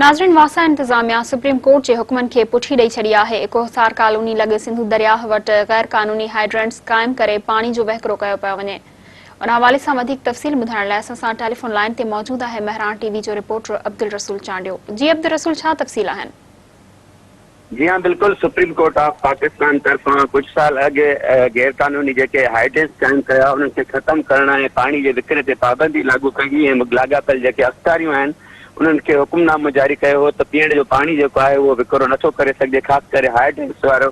ناظرين واسا انتظاميا سپريم ڪورٽ جي حڪمن کي پٺي ڏئي ڇڏي آهي، ڪوهسار ڪالوني لڳ سنڌو درياهه وٽ غير قانوني هائيڊرنٽس قائم ڪري پاڻي جو وهڪرو ڪيو پيو وڃي ان حوالي سان وڌيڪ تفصيل ٻڌائڻ لاء اسان سان ٽيليفون لائين تي موجود آهي مهراڻ ٽي وي جو رپورٽر عبدالرسول چانڊيو جي عبدالرسول ڇا تفصيل آهن. جي ها بلڪل سپريم ڪورٽ آف پاڪستان طرفان ڪجهه سال اڳ غير قانوني جيڪي هائي ڊينس قائم ڪيا انهن کي ختم ڪرڻ ۽ پاڻي جي وڪري تي پابندي لاڳو ڪئي هئي ۽ لاڳاپيل جيڪي اختاريون آهن انهن کي حڪم نامو جاري ڪيو هو ته پيئڻ جو پاڻي جيڪو آهي اهو وڪرو نٿو ڪري سگهجي خاص ڪري هائي ڊينس وارو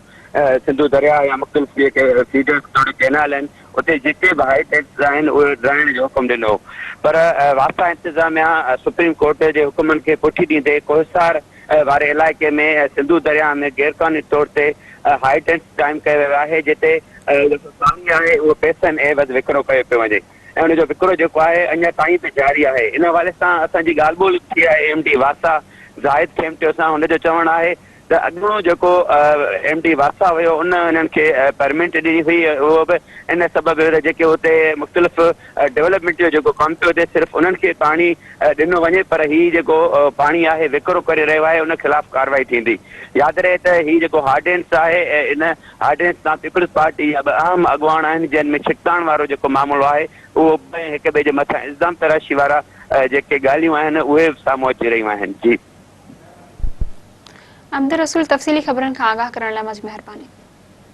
سنڌو درياهه يا مختلف جيڪي فيڊرز توڙي ڪينال آهن اتي جيڪي به هائي ڊينس آهن اهي ڊرائڻ جو حڪم ڏنو پر واسا انتظاميا سپريم ڪورٽ جي حڪمن کي پٺي ڏيندي ڪوهسار واري علائقي ۾ سنڌو درياهه ۾ غيرقانوني طور تي هاء ٽينٽس قائم ڪيو ويو آهي جتي جيڪو پاڻي آهي اهو پئسن عيوض وڪرو ڪيو پيو وڃي ۽ ان جو وڪرو جيڪو آهي اڃا تائين به جاري آهي ان حوالي سان اسان جي ڳالهه ٻولهه ٿي آهي ايم ڊي واسا زاهد کيمٽيو سان ان جو چوڻ آهي ته اڳوڻو جيڪو ايم ڊي واسا هيو ان انهن کي پرمنٽ ڏني هئي اهو به ان سبب هيو ته جيڪي اتي مختلف ڊولپمينٽ جو جيڪو ڪم پيو ٿئي صرف انهن کي پاڻي ڏنو وڃي پر هي جيڪو پاڻي آهي وڪرو ڪري رهيو آهي ان خلاف ڪارروائي ٿيندي. ياد رهي ته هي جيڪو هارڊينس آهي ان هارڊينس تان پيپلز پارٽي جا ٻه اهم اڳواڻ آهن جن ۾ ڇڪتاڻ وارو جيڪو معاملو آهي اهو به ۽ هڪ ٻئي جي مٿان الزام تراشي وارا جيڪي ڳالهيون آهن اهي به سامهون اچي رهيون آهن. جي. عبدالرسول تفصيلي خبرن کان آگاهه ڪرڻ لاء مچ مهرباني.